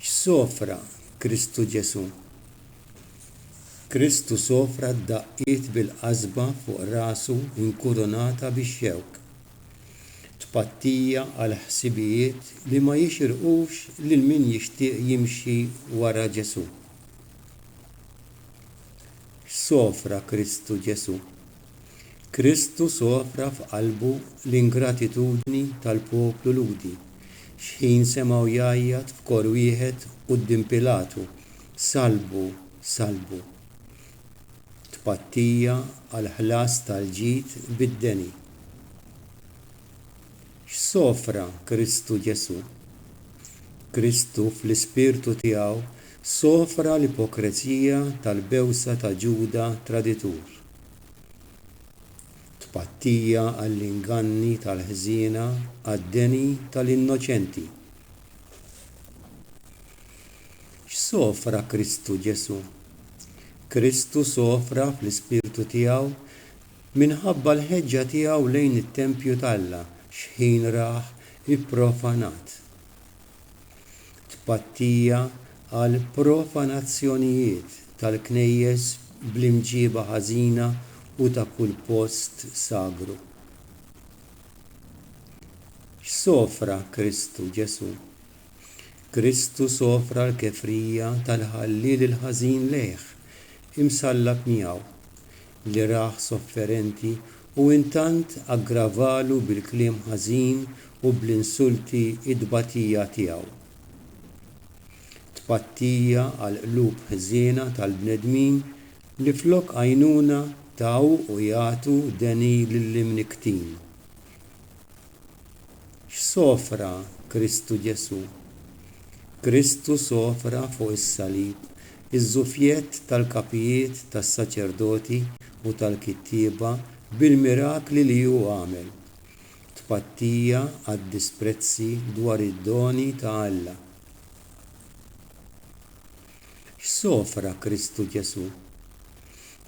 X'sofra Kristu Ġesù? Kristu sofra d-daqqiet bil-qasba fuq rasu inkurunata bix-xewk. Tpattija għal ħsibijiet li ma jixirqux lil min jixtieq jimxi wara Ġesù. X'sofra Kristu Ġesù? Kristu sofra f'qalbu l-ingratitudni tal-poplu Lhudi, xħin semgħu jgħajjat f'kor wieħed quddiem Pilatu, Salbu, salbu! Tpattija għall-ħlas tal-ġid bid-deni. X'sofra Kristu Ġesù? Kristu fl-ispirtu tiegħu sofra l-ipokrezija tal-bewsa ta' Ġuda traditur. Tpattija għall-inganni tal-ħżiena għad-deni tal-innoċenti. X'sofra Kristu Ġesù? Kristu sofra fl-ispirtu tiegħu minħabba l-ħeġġa tiegħu lejn it-tempju t'Alla x'ħin rah ipprofanat. Tpattija għal profanazzjonijiet tal-knejjes bl-imġieba ħażina u ta' kull post sagru. X'sofra Kristu Ġesù? Kristu sofra l-kefrija tal-ħalliel il-ħażin lejh, imsallab miegħu. li rah sofferenti u intant aggravalu bil-kliem ħażin u bl-insulti t-tbatija tiegħu. Tpattija għal qlub ħżiena tal-bnedmin li flok għajnuna taw u jagħtu deni lill-imnikktin. X'sofra Kristu Ġesù? Kristu sofra fuq is-salib iż-żufjett tal-kapijiet tas-saċerdoti u tal-kittieba bil-mirakli li hu għamel, tpattija għad-disprezzi dwar id-doni ta' Alla. X'sofra Kristu Ġesù?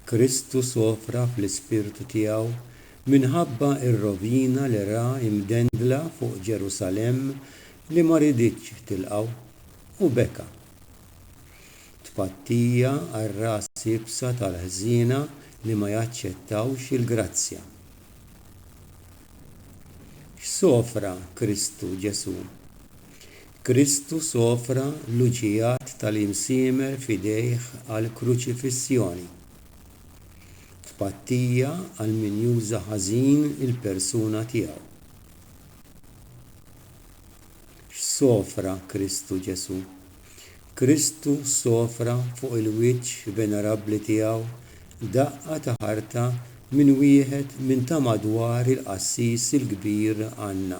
Kristu sofra fl-ispirtu tiegħu minħabba r-rovina li ra imdendla fuq Ġerusalemm li ma riditx tilqgħu, u beka. Tpattija għar-ras iebsa tal-ħżiena li ma jaċċettawx il-grazzja. X'sofra Kristu Ġesù? Kristu sofra l-uġigħat tal-imsiemer f'idejh għall-kruċifissjoni. Tpattija għal min juża ħażin il-persuna tiegħu. X'sofra Kristu Ġesù? Kristu sofra fuq il-wiċċ venerabbli tiegħu daqqa ta' ħarta minn wieħed minn ta' madwar il-qassis il-kbir Anna.